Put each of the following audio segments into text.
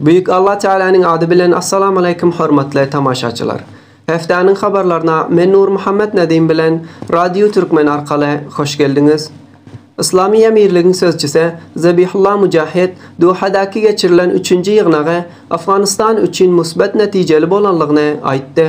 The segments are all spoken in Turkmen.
Büyük Allah Tealanyň ady bilen Assalamaleykum hormatly tamaşaçylar. Heftäniň habarlaryna men Nurmuhammet Nedim bilen Radio Türkmen arkaly hoş geldiňiz. Yslamy Emirligiň sözçüsi Zabihullah Mujahid Dohadaky geçirilen üçünji ýygnagy Afganystan üçin musbat netijeli bolanlygyny aýtdy.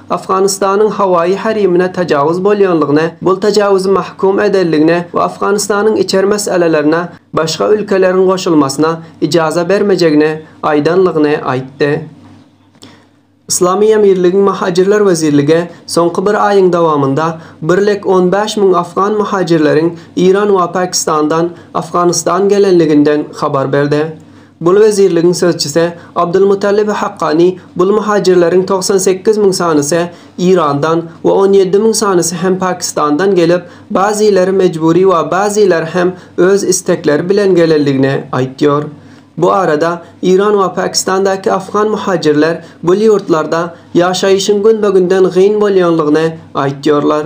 Afganistanyň howaýy herimine tajawuz bolýanlygyny, bul tajawuzy mahkum edenligini we Afganistanyň içer meselelerine başga ülkeleriň goşulmasyna ijaza bermejegini aýdanlygyny aýtdy. Yslamy emirligiň Muhajirler wezirligi soňky bir aýyň dowamynda birlek on bäş müň afgan muhajirleriň Iran we Pakistandan Afganistan gelenliginden habar berdi. Bul wezirligiň sözçüsi Abdulmutallib Hakkani bul muhajirleriň togsan sekiz müň sanysy Irandan we on ýedi müň sanysy hem Pakistandan gelip, bazyýleri mejbury we bazyýleri hem öz istekleri bilen gelendigini aýtýar. Bu arada Iran we Pakistandaky afgan muhajirler bul ýurtlarda ýaşaýyşyň günbe-günden gyn bolýanlygyny aýtýarlar.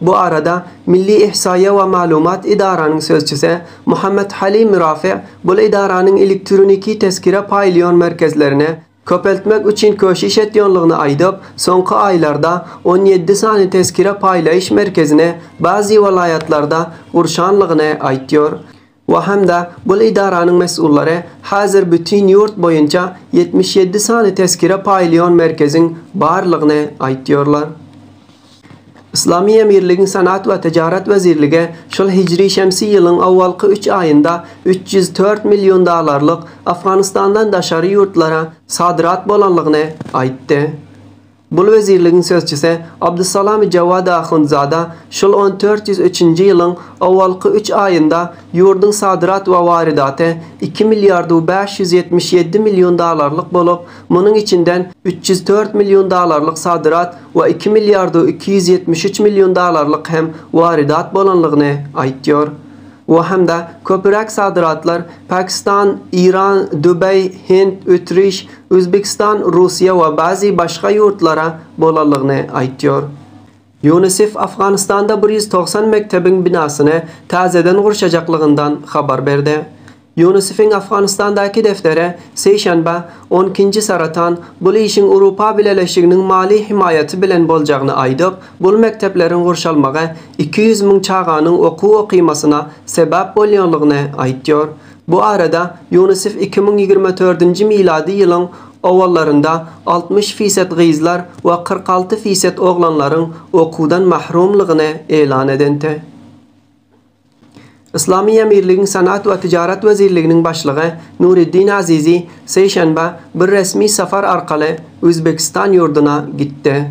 Bu arada Milli ihsaýýa we maglumat edaranyň sözçüse Muhammet Halim Mürafe bul edaranyň elektroniki tezkire paýlaýan merkezlerine köpeltmek üçin köşiş etýänligini aýdyp, soňky aýlarda on ýedi sany tezkire paýlaýyş merkezini bazi welaýatlarda gurşanlygyny aýtýar. we hem-de bul edaranyň mesullary häzir bütin ýurt boýunça ýetmiş ýedi sany tezkire paýlaýan merkeziň barlygyny aýtýarlar. Yslamy Emirligiň Senat we Tijarat wezirligi şol hijri-şemsi ýylyň owalky üç aýynda üç ýüz dört million dollarlyk Afganistandan daşary ýurtlara sadrat bolanlygyny aýtdy. Bul wezirligiň sözçüsi Abdussalami Jawadi Ahundzada şul on dört ýüz üçünji ýylyň owalky üç aýynda ýurduň sadrat we waridaty iki milliardu bäş ýüz ýetmiş ýedi million dalarlyk bolup, munuň içinden üç ýüz dört million dalarlyk sadrat we iki milliardu iki ýüz ýetmiş üç million dalarlyk hem waridat bolanlygyny aýtýar. Bu hem-de köpüräk sadratlar Pakistan, Iran, Dubaý, Hind, Ütriş, Özbegistan Russiýa we bazi başga ýurtlara bolalygyny aýtýar. Ýunisef Afganistanda bir ýüz togsan mektebiň binasyny täzeden gurşajaklygyndan habar berdi. Ýunisefiň Afganistandaky defteri seýşenbe, on ikinji saratan, bul işiň Urupa Bileleşiginiň mali hemaýaty bilen boljagyny aýdyp, bul mektepleriň gurşalmagy iki ýüz müň çaganyň okuw okymasyna sebäp bolýanlygyny aýtýar. Bu arada Ýunisef iki müň ýigrimi dördünji milady ýylyň owallarynda altmyş feýset gyzlar we kyrk alty feýset oglanlaryň okuwdan mahrumlygyny elan edente. Yslamy Emirligiň Senat we Tijarat wezirliginiň başlygy Nuriddin Azizi seýşenbe bir resmi sapar arkaly Uzbekistan ýurduna gitdi.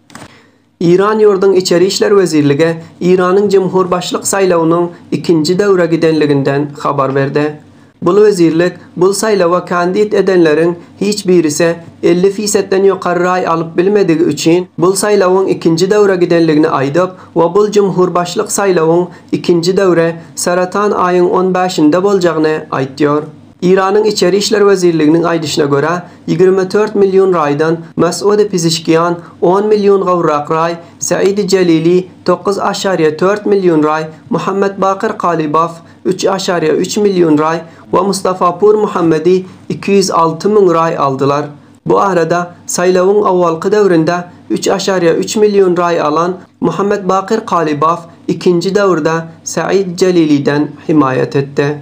Iran ýurduň Içeri işler wezirlige Iranyň jumhurbaşlyk saýlawynyň ikinji döwre gidenliginden habar berde. Bul wezirlik bul saýlawa kandit edenleriň hiç birise elli fisetden ýokary raý alyp bilmedigi üçin bul saýlawyň ikinji döwre gidenligini aýdyp we bul jumhurbaşlyk saýlawyň ikinji döwre saratan aýyň on bäşinde boljagyny aýtýar. Eýranyň Içeri işler wezirliginiň aýdyşyna görä, ýigrimi dört million raýdan Masude Pizişkian, on million gowrak raý, Saidi Jalili, dokuz aşariýe dört million raý, Muhammad Bakir Kalibow, üç aşariýe üç million raý, we Mustafa Pur Muhammadi, iki ýüz alty müň raý, aldylar. Bu arada, saýlawyň owalky döwründe üç aşariýe üç million raý alan Muhammad Bakir Kalibow ikinji döwürde Said Jaliliden hemaýat etdi.